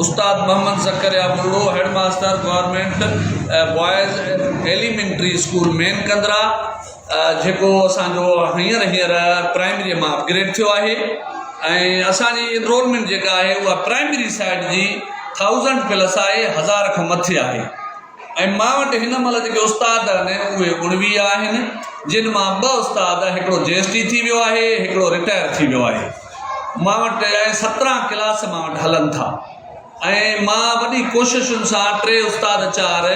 استاد Muhammad Zakariya Barro, head master, government boys elementary school main Kandra جيڪو اسان جو هينئر هينئر پرائمري مان اپ گريڊ ٿيو آهي ۽ اسان جي انرولمينٽ جيڪا آهي اها پرائمري سائيڊ جي ٿائوزنڊ پلس آهي هزار کان مٿي آهي ۽ مان وٽ هن مهل جيڪي استاد آهن اهي اڻويهه آهن جن مان ٻه استاد هڪڙو جي ايس ٽي ٿي ويو آهي هڪڙو رٽائر ٿي ويو آهي مان وٽ سترهن ڪلاس مان وٽ هلن ٿا ۽ مان وڏي ڪوششن سان ٽي استاد چار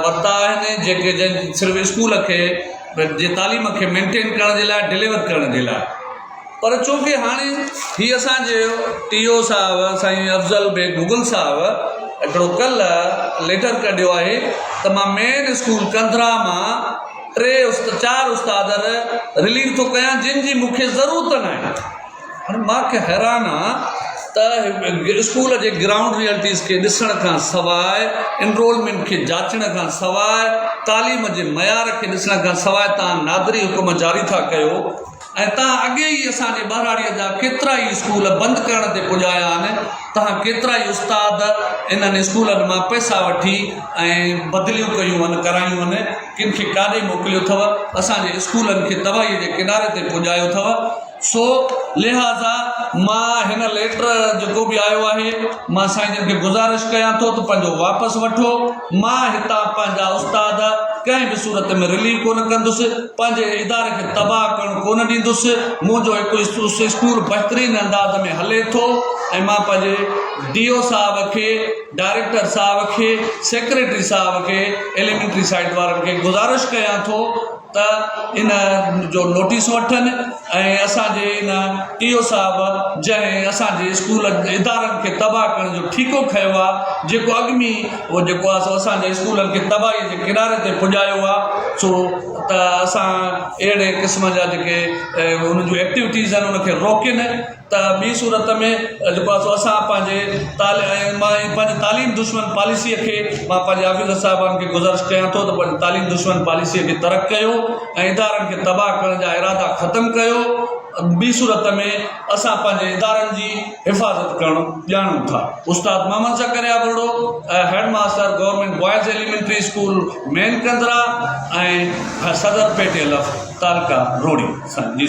ورتا آهن جيڪي جن صرف اسڪول کي جي تعليم کي مينٽين ڪرڻ جي لاء ڊليور ڪرڻ جي لاء پر چونڪه هاڻي هي اسان جي ٽي او صاحب سائين افضل بيگ مغل صاحب هڪڙو ڪلهه ليٽر ڪڍيو آهي ته مان مين اسڪول ڪنڌرا مان ٽي چار استاد رليو ٿو ڪيان جن جي مون کي ضرورت نه آهي هاڻي مان کي حيران آ ته اسڪول جي گرائونڊ ريئلٽيز کي ڏسڻ کان سواء انرولمنٽ کي جاچڻ کان سواء تعليم جي معيار کي ڏسڻ کان سواء تان نادري حڪم جاري ٿا ڪيو ۽ تهان اڳي ئي اسان جي ٻهراڙيء جا ڪيترا ئي اسڪول بند ڪرڻ تي پڄايا آهن، تهان ڪيترا ئي استاد انهن اسڪولن مان پئسا وٺي ۽ بدليون ڪيون هن ڪرايون هن، ڪن کي ڪاڏي موڪليو اٿو، اسان جي اسڪولن کي تباهيء جي ڪناري تي پڄايو اٿو، سو لهٰذا مان هن ليٽر جيڪو به آيو آهي، مان سائين جن کي گذارش ڪيان ٿو ته پنهنجو واپس وٺو. مان هتان پنهنجا استاد ڪنهن به صورت ۾ رليو ڪونه ڪندس، پنهنجي اداري کي تباهه ڪرڻ ڪونه ڏيندس، منهنجو هڪ اسڪول بهترين انداز ۾ هلي ٿو ۽ مان پنهنجي ڊي او صاحب کي، ڊائريڪٽر صاحب کي، سيڪريٽري صاحب کي، ايليمينٽري سائيٽ وارن کي گذارش ڪيان ٿو، ته ان جو نوٽيس وٺن ۽ اسانجي ان ٽي او صاحب جنهن اسانجي اسڪول ادارن کي تباهه ڪرڻ جو ٺيڪو کنيو آهي جيڪو اڳ ۾ ئي هو جيڪو آهي سو اسانجي اسڪولن کي تباهي جي ڪناري تي پڄايو آهي سو ته اسان اهڙي قسم جا جيڪي ۽ ان جون ايڪٽوٽيز آهن ان کي روڪين ته ٻي صورت ۾ جيڪو آهي سو اسان پنهنجي تال ۽ ماء ۽ پنهنجي تعليم دشمن پاليسيء کي مان پنهنجي آفيسر صاحبان کي گذارش ڪيان ٿو ته پنهنجي تعليم دشمن پاليسيء کي ترڪ ڪيو ۽ ادارن کي تباهه ڪرڻ جا ارادا ختم ڪيو ٻي صورت ۾ اسان پنهنجي ادارن جي حفاظت ڪرڻ ڄاڻون ٿا. استاد Muhammad Zakariya Barro head master government boys elementary school main Kandra ۽ صدر پيٽي الف تعلقه روهڙي سان جي.